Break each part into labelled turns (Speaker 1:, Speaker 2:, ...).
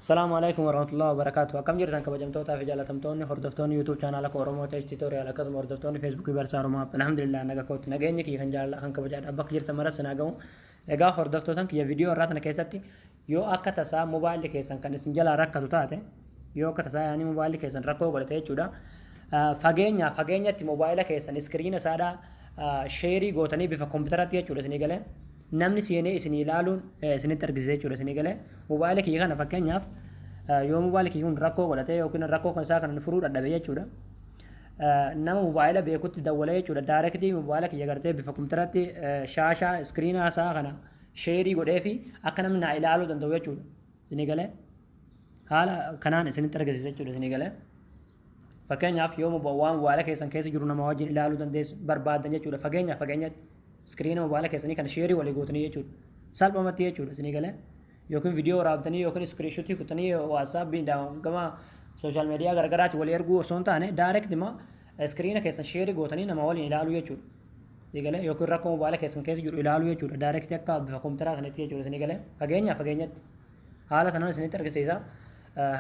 Speaker 1: Salaamu alaikum warahmatullahi wabarakatuh. Akkam jirtan kabajamtootaa fi jaalatamtoonni hordoftoonni YouTube chaanaala koo Oromoo Tech Tutorial akkasuma hordoftoonni Facebook Barsaa Oromoo alhamdulillah naga kootti nageenyi kiyya kan jaalala kan kabajaadha bakka jirtan maras sinaa gahu. Egaa hordoftootan kiyya viidiyoo irraa tana keessatti Yoo akka tasaa mobaayilli keessan kan isin jalaa rakkatu taate, yoo akka tasaa yaani mobaayilli keessan rakkoo godhate jechuudha. Fageenyaa fageenyatti mobaayila keessan iskiriina isaadhaa sheerii gootanii bifa kompiitaratti jechuudha isinii galee namni seenee isinii ilaaluun isinitti argisiisa jechuudha isinii galee mobaayila kiyya kana fakkeenyaaf yoo mobaayila kiyya kun rakkoo godhate yookiin rakkoo kan isaa kana furuu dadhabe jechuudha. Nama mobaayila beekutti dawwalee jechuudha. Daarekitii mobaayila kiyya gartee bifa kompiitaratti shaashaa iskiriinaa isaa kana sheerii godhee fi akka namni naa ilaaluu danda'u jechuudha. Isinii galee haala kanaan isinitti argisiisa jechuudha isinii galee. Fakkeenyaaf yoo waan waala keessan keessa jiru nama wajjin ilaaluu dandeessu barbaadan jechuudha. Fageenyaaf fageenyatti iskiriina mobaala keessanii kana sheerii walii gootanii jechuudha. Salphumatti jechuudha isinii galee. Yookiin viidiyoo waraabdanii yookiin iskiriishuutii kutanii waatsaappiin gama sooshaal miidiyaa garagaraatti walii erguu osoo hin taane daayireekti iskiriina keessan sheerii gootanii nama waliin ilaaluu jechuudha. Eegale yookiin rakkoo mobaayila keessan keessa jiru ilaaluu jechuudha. Daayirektii akka bifa kompiitaraa sanitti jechuudha isin eegale. Fageenya fageenyatti haala sanaan isinitti argisiisa.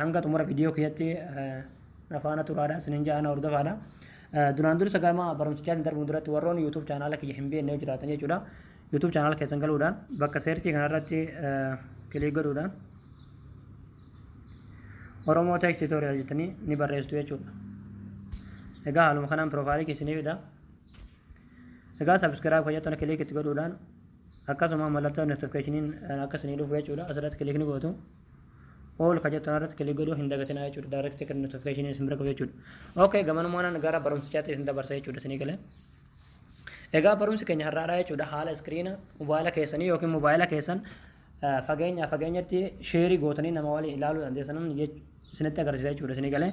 Speaker 1: Hanga xumura viidiyoo kiyyatti na faana turaadha isinin jaana hordofaadha. Duraan dursa gama barumsichaatiin darbuun duratti warroon YouTube chaanaala kiyya hin beekne yoo jiraatan jechuudha. YouTube chaanaala keessan galuudhaan bakka seerchii kanarratti kilii godhuudhaan Oromoo Tech Tutorial jettanii ni barreessitu jechuudha. Egaa haaluma kanaan piroofaayilii keessanii fida. Egaa subscribe kan jettan kiliik itti godhuudhaan akkasuma mallattoo notificationin akka isinii dhufu jechuudha asirratti kiliik ni gootu. All kan jettan irratti kiliik godhuu hin dagatinaa jechuudha direct kan notification isin bira qabu jechuudha. Okay gamanumaan gara barumsichaatti isin dabarsa jechuudha isinii galee. Egaa barumsi keenya har'aadhaa jechuudha haala iskiriina mobaayila keessanii yookiin mobaayila keessan fageenya fageenyatti sheerii gootanii nama waliin ilaaluu dandeessan isinitti agarsiisa jechuudha isinii galee.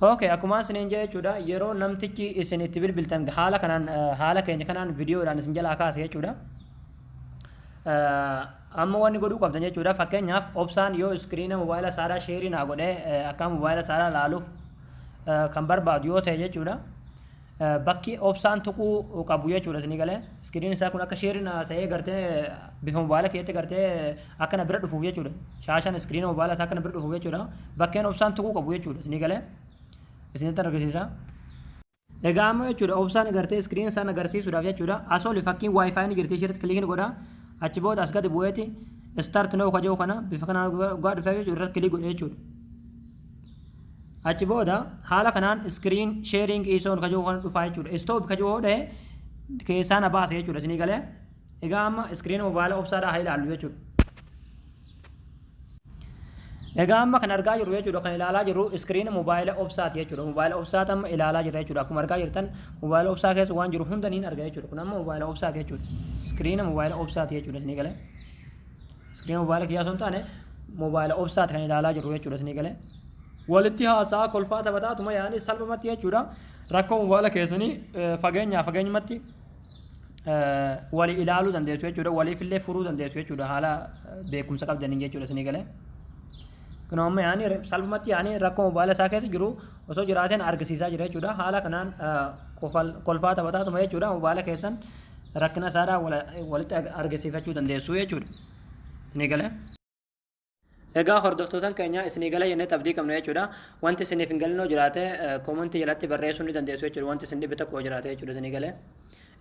Speaker 1: Okay, akkuma isiniin jedhe jechuudha yeroo namtichi isin itti bilbiltan haala kanaan eh, haala keenya kanaan viidiyoodhaan isin jalaa kaase jechuudha. Eh, Amma wanni godhuu qabdan jechuudha fakkeenyaaf obsaan yoo iskiriina mobaayila saaraa sheerii naa godhee eh, akka mobaayila saaraa laaluuf eh, kan barbaadu yoo ta'e jechuudha. Bakki obsaan tuquu qabu jechuudha isinii galee iskiriin isaa kun akka sheerii naa ta'ee gartee bifa mobaayila keetti gartee akka na bira dhufuuf jechuudha shaashaan iskiriina mobaayila isaa akka na bira dhufuuf jechuudha bakkeen obsaan tuquu qabu jechuudha isinii galee isinitti argisiisa. Egaa ammoo jechuudha obsaan gartee iskiriin isaan agarsiisuudhaaf jechuudha as oli fakkiin waayifaayi ni jirti ishiirratti kiliikni godha achi booda as gadi bu'eeti istaart noo kaja'u kana bifa kanaan dhugaa dhufee jechuudha irratti kiliik godhe jechuudha. achi booda haala kanaan screen sharing is on kajoo kana dhufaa jechuudha stop kajoo hodhe keessaa na baase jechuudha isinii galee egaa amma screen mobaayila obsaadhaa haa ilaallu jechuudha egaa amma kan argaa jirru jechuudha kan ilaalaa jirru screen mobaayila obsaati jechuudha mobaayila obsaati amma ilaalaa jirra jechuudha akkuma argaa jirtan mobaayila obsaa keessa waan jiru hunda niin arga jechuudha kun amma mobaayila obsaati jechuudha screen mobaayila obsaati jechuudha isinii galee Iskiriin moobaayila kiyyaa osoo hin taane moobaayila obsaati kan ilaalaa jirru jechuudha isinii galee. Walitti haasaa kolfaa taphataa tuma yaa'anii salphumatti jechuudha. Rakkoo moobaayila keessanii fageenyaa fageenyumatti wali ilaaluu dandeessu jechuudha. Waliifillee furuu dandeessu jechuudha haala beekumsa qabdaniin jechuudha isinii galee. Kunoo amma yaa'anii salphumatti yaa'anii rakkoo moobaayila isaa keessa jiru osoo jiraateen argisiisaa jira jechuudha. Haala kanaan kolfaa taphataatuma jechuudha mobaala keessan rakkina isaadhaa walitti argisiifachuu dandeessu jechuudha. Ni galee. Egaa hordoftootan keenya isinii gala jennee abdii qabna jechuudha. Wanti isiniif hin galinoo jiraate koomantii jalatti barreessuu ni dandeessu jechuudha. Wanti isin dhibe tokko jiraate jechuudha isinii galee.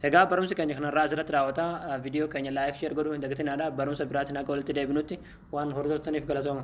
Speaker 1: Egaa barumsi keenya kanarraa asirratti raawwata. Viidiyoo keenya laayik sheer godhuu hin dagatinaadha. Barumsa biraatiin akka walitti deebinutti waan hordoftaniif galatooma.